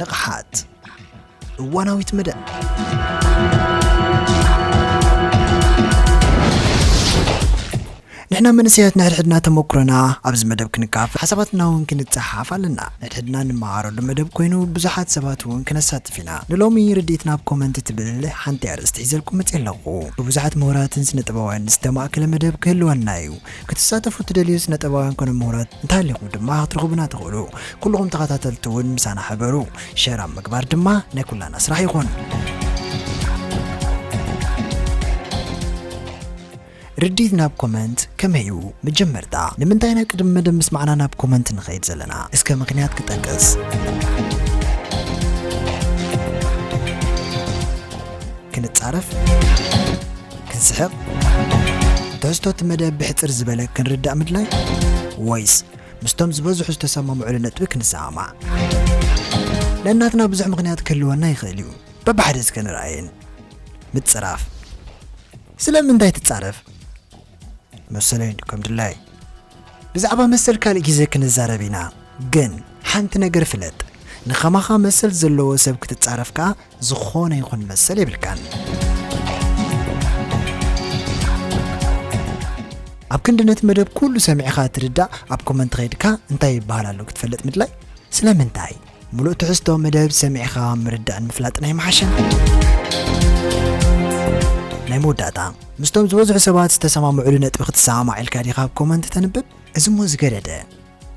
ንቕሓት እዋናዊት መደብ ንሕና መንእሰያት ንሕድሕድና ተመኩሮና ኣብዚ መደብ ክንካፍ ሓሳባትና እውን ክንፀሓፍ ኣለና ንሕድሕድና ንመሃረሉ መደብ ኮይኑ ብዙሓት ሰባት እውን ክነሳትፍ ኢና ንሎሚ ርድኢት ናብ ኮመንት ትብል ሓንቲ ኣርእስቲ ሒዘልኩም መፅእ ኣለኹ ብብዙሓት ምሁራትን ስነ ጥበባውያን ዝተማእከለ መደብ ክህልወና እዩ ክትሳተፉ እትደልዩ ስነጥበባውያን ኮነ ምሁራት እንተሃሊኹም ድማ ክትረኽቡና ትኽእሉ። ኩሉኹም ተኸታተልቲ እውን ምሳና ሕበሩ። ሸር ኣብ ምግባር ድማ ናይ ኩላና ስራሕ ይኹን። ርዲት ናብ ኮመንት ከመይ እዩ መጀመርታ ንምንታይ ኢና ቅድሚ መደብ ምስማዕና ናብ ኮመንት ንኸይድ ዘለና እስከ ምክንያት ክጠቅስ ክንጻረፍ ክንስሕቕ ትሕዝቶ እቲ መደብ ብሕጽር ዝበለ ክንርዳእ ምድላይ ወይስ ምስቶም ዝበዝሑ ዝተሰማምዑሉ ነጥቢ ክንሰማማዕ ነናትና ብዙሕ ምኽንያት ክህልወና ይኽእል እዩ በብሓደ ዝከነርኣየን ምጽራፍ ስለምንታይ ትጻረፍ መሰለይ ከም ድላይ ብዛዕባ መሰል ካልእ ግዜ ክንዛረብ ኢና ግን ሓንቲ ነገር ፍለጥ ንኸማኻ መሰል ዘለዎ ሰብ ክትጻረፍ ከኣ ዝኾነ ይኹን መሰል የብልካን። ኣብ ክንዲ ነቲ መደብ ኩሉ ሰሚዕኻ ትርዳእ ኣብ ኮመንት ኸይድካ እንታይ ይበሃል ኣሎ ክትፈልጥ ምድላይ ስለምንታይ ሙሉእ ትሕዝቶ መደብ ሰሚዕኻ ምርዳእን ምፍላጥን ኣይምሓሸን ናይ መወዳእታ ምስቶም ዝበዝሑ ሰባት ዝተሰማምዕሉ ነጥቢ ክትሰማማዕ ኢልካ ዲኻ ኣብ ኮመንት ተንብብ እዚ እሞ ዝገደደ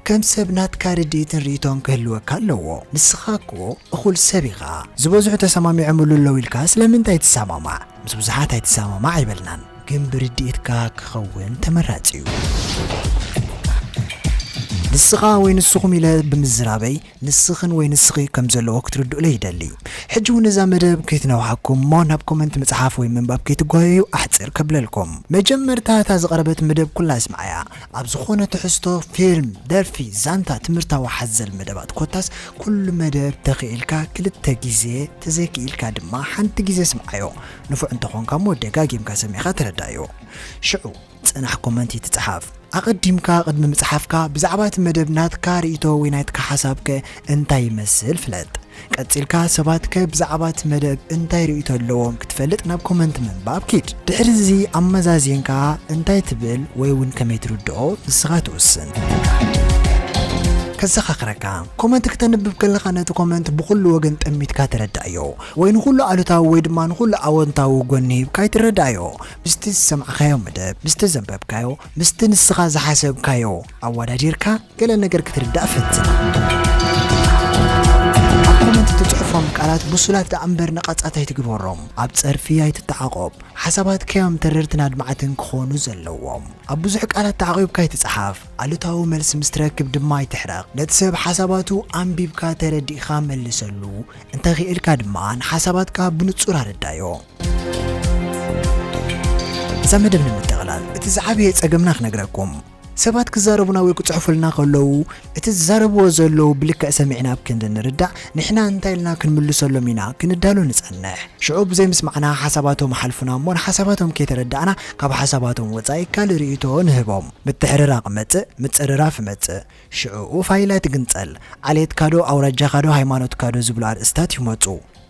ከም ሰብ ናትካ ርድኢትን ርኢቶን ክህልወካ ኣለዎ ንስኻ እኮ እኹል ሰብ ኢኻ ዝበዝሑ ተሰማሚዖምሉ ኣለው ኢልካ ስለምንታይ ትሰማማዕ ምስ ብዙሓት ኣይትሰማማዕ ኣይበልናን ግን ብርድኢትካ ክኸውን ተመራጺ እዩ። ንስኻ ወይ ንስኹም ኢለ ብምዝራበይ ንስኽን ወይ ንስኺ ከም ዘለዎ ክትርድኡለይ ይደሊ። ሕጂ ውን እዛ መደብ ከይትነውሓኩም እሞ ናብ ኮመንት ምጽሓፍ ወይ ምንባብ ከይትጓየዩ ኣሕጽር ከብለልኩም። መጀመርታ እታ ዝቐረበት መደብ ኩላ እስምዓያ። ኣብ ዝኾነ ትሕዝቶ፣ ፊልም፣ ደርፊ፣ ዛንታ፣ ትምህርታዊ ሓዘል መደባት ኮታስ ኩሉ መደብ ተኺኢልካ ክልተ ግዜ ተዘይክኢልካ ድማ ሓንቲ ግዜ ስምዓዮ። ንፉዕ እንተኾንካ እሞ ደጋጊምካ ሰሚዕኻ ተረዳኣዮ። ሽዑ። ጽናሕ ኮመንት ይትጽሓፍ። ኣቐዲምካ ቅድሚ ምጽሓፍካ ብዛዕባ እቲ መደብ ናትካ ርእይቶ ወይ ናይትካ ሓሳብ ከ እንታይ ይመስል ፍለጥ። ቀጺልካ ሰባት ከ ብዛዕባ እቲ መደብ እንታይ ርእይቶ ኣለዎም ክትፈልጥ ናብ ኮመንት ምንባብ ኪድ። ድሕሪ እዚ ኣመዛዚንካ እንታይ ትብል ወይ እውን ከመይ ትርድኦ ንስኻ ትውስን። ከዘኻኽረካ ኮመንት ክተንብብ ከለኻ ነቲ ኮመንት ብኹሉ ወገን ጠሚትካ ተረዳእዮ ወይ ንኹሉ ኣሉታዊ ወይ ድማ ንኹሉ ኣወንታዊ ጎኒ ሂብካ ኣይትረዳእዮ ምስቲ ዝሰማዕካዮ መደብ ምስቲ ዘንበብካዮ ምስቲ ንስኻ ዝሓሰብካዮ ኣወዳዲርካ ገለ ነገር ክትርዳእ ፈትን። ኣብ ኮመንት እትጽሕፎም ቃላት ብሱላት ደኣ እምበር ነቐጻት ኣይትግበሮም። ኣብ ጸርፊ ኣይትተዓቖብ። ሓሳባትካዮም ተረርትን ኣድማዕትን ክኾኑ ዘለዎም። ኣብ ብዙሕ ቃላት ተዓቒብካ ኣይትጽሓፍ። ኣሉታዊ መልሲ ምስ ትረክብ ድማ ኣይትሕረቕ። ነቲ ሰብ ሓሳባቱ ኣንቢብካ ተረዲእካ መልሰሉ። እንተኺእልካ ድማ ንሓሳባትካ ብንጹር ኣረዳዮ። እዛ መደብ ንምጥቕላል እቲ ዝዓበየ ጸገምና ክነግረኩም ሰባት ክዛረቡና ወይ ክጽሕፉልና ከለዉ እቲ ዝዛረብዎ ዘለዉ ብልክዕ ሰሚዕና ኣብ ክንዲ ንርዳእ ንሕና እንታይ ኢልና ክንምልሰሎም ኢና ክንዳሎ ንጸንሕ ሽዑ ብዘይ ምስማዕና ሓሳባቶም ሓልፉና እሞ ንሓሳባቶም ከይተረዳእና ካብ ሓሳባቶም ወጻኢ ካልእ ርእይቶ ንህቦም ምትሕርራቕ መጽእ ምጽርራፍ መጽእ ሽዑኡ ፋይላት ግንጸል ዓሌትካዶ ኣውራጃኻዶ ሃይማኖትካዶ ዝብሉ ኣርእስታት ይመጹ